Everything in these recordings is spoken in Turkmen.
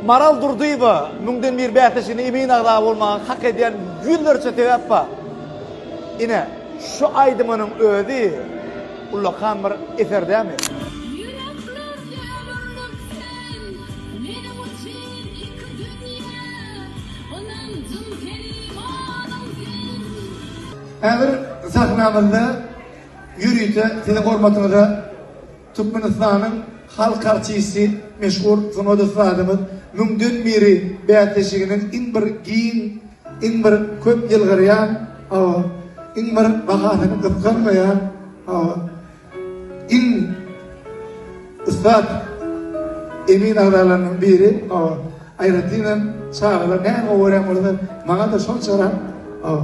Maral Durdyýewa, Müňden bir bäsleşigine emin agza bolmaga hak edýän ýüzlerçe sebäp bar. Ine, şu aýdymynyň özi ullakan bir eser dämi? Ýürekler demirdir sen meniň üçin iki dünýä Ynanjym sen imanyň sen. Häzir sahnamyzda ýörite siziň hormatyňyza. Türkmenistanyň halk artisti, meşhur sungat ussadymyz Müňden biri bäsleşiginiň iň bir giň, iň bir köp ýylgyrýan, hawa, iň bir bahasyny gysganmaýan, hawa, iň ussat emin agzalarynyň biri, hawa, aýratynam çagalar näme görýän bolsa, maňa-da şonçarak, hawa.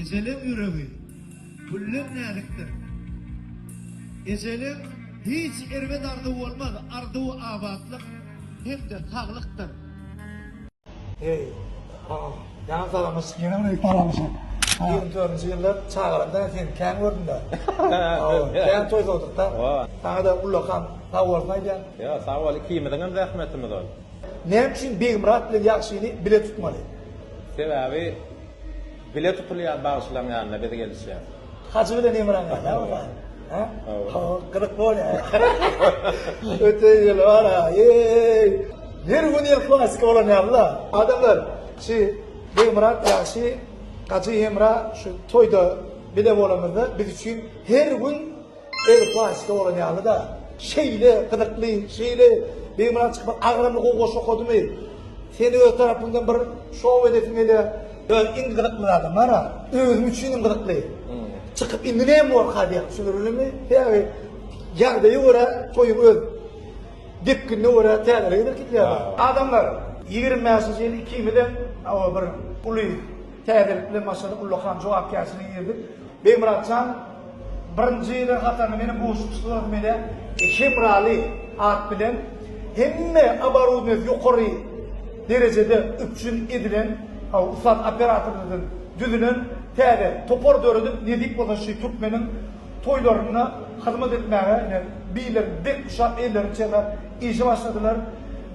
Ejeleň ýüregi gülden näzikdir. Ejeleň hiç erbet arzuwy bolmaz, arzuwy abatlyk hem-de saglykdyr. Heý, aman, jan salamyş, ýene bir öýüp baralymyşyn. Ýigrimi dördünji ýyllar çagalarymda-da seni kän gördüm-dä. Hawa, kän toýsadykda. Saňa-da ullakan sag bolsun aýdýan. Ýa, sag bol, ikimiziňem zähmetimiz ol. Näme üçin Begmyrat bilen Ýagşyny bile tutmaly? Sebäbi bile tutulýar bagşylaň ýanyna biz gelişýäs. Hajy bilen Emraň ýaly bu zat. Hä? Hawa. Gyzyk bolýar. Öte ýyl bara. Eý! Her gün ýyl klasika bolan ýaly-la. Adamlar, şi Begmyrat ýa şi Hajy Emra şu toýda bile bolamyzda biz üçin her gün Erbet Waysda bolan ýaly-da. Şeýle gyzykly, şeýle beýmana çykmak agramly gowy goşgy okadymy? Seni öz tarapymdan bir şou edesim gelýär. Ýok, indi gyzykly zadam bar-a. Özüm üçin hem gyzykly. Çykyp indi näme borka diýýän, düşündirilenmi? Sebäbi ýagdaýa görä toýuň öz depginine görä täzeligini kitlýärler. Adamlar, ýigrimi bäşinji ýyl ikimizem oba bir uly täzelik bilen başladyk, ullakan jogapkärçiligi girdik. Begmyratjan. Birinjiler hatarynda meniň goşguşlarymy menä Hemraly at bilen hemme oborudnýasy ýokary derejede üpjün edilen ussat operatorlardan düzülen täze topar döredip nesip bolsa şy türkmeniň toýlarynda hyzmat etmäge ine biler bek uşak ellerini çeker Işe başladylar.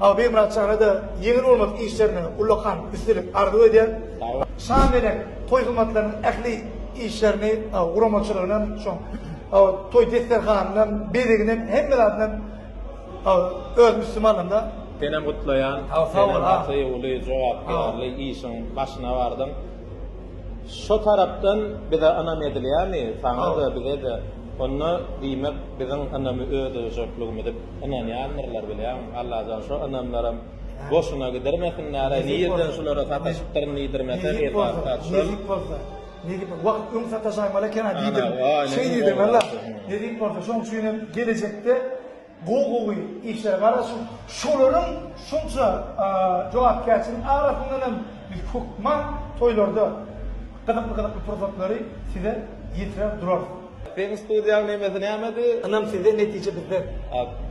Awa Begmyrat jana-da ýeňil bolmadyk işlerine ullakan üstünlik arzuw edýän. Şa melek toý hyzmatlarynyň ähli işlerini, guramaçylygyny hem, şoň toý desterhanyny hem, bezegini hem, hemme zadyny hem özüniň üstüme alanda. Senem gutlaýan. Sag bol a. Seniň gaty uly jogapkärli işiň başyna bardyň. Şo tarapdan bize ynam edilýärmi? Saňa-da, bize-de. Onda, diýmek, biziň ynamy öldürjekligimizi ynanýandyrlar, bilýäňmi? Allajan şo ynamlaram boşuna gidirmesinler-aý, nireden şulara sataşypdyryn diýdirmese, Eldar patyşam. Nezip bolsa, nezip bolsa, wagt öň sataşaýmaly eken-ä diýdim. Şeý diýdim, walla, nezip bolsa, şoň üçin hem gelejekde, Gowy gowy işler gardaşym şolaryň şunça jogapkärçiligiň arasyndan hem biz hökman toýlarda gyzykly gyzykly pursatlary size ýetirer durarys. Seň studiýaň nemesi nämedi? Ynam sizden netije bizden.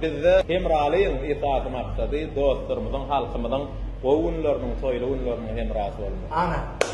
Bizde hemralygyň esasy maksady dostlarymyzyň halkymyzyň gowy günleriniň toýly günleriniň hemrasy bolmak. Ana.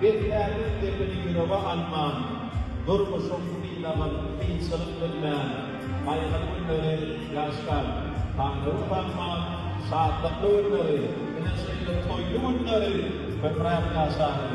Beýtýä üz depini ýürege alman, Durmuşyň synagyn kynçylyk bilmän, Gaýgyly günleri ýaşdan, Taňry utanman, Şatlykly günleri, ine şeýle toýly günleri Köpräk ýaşalyň!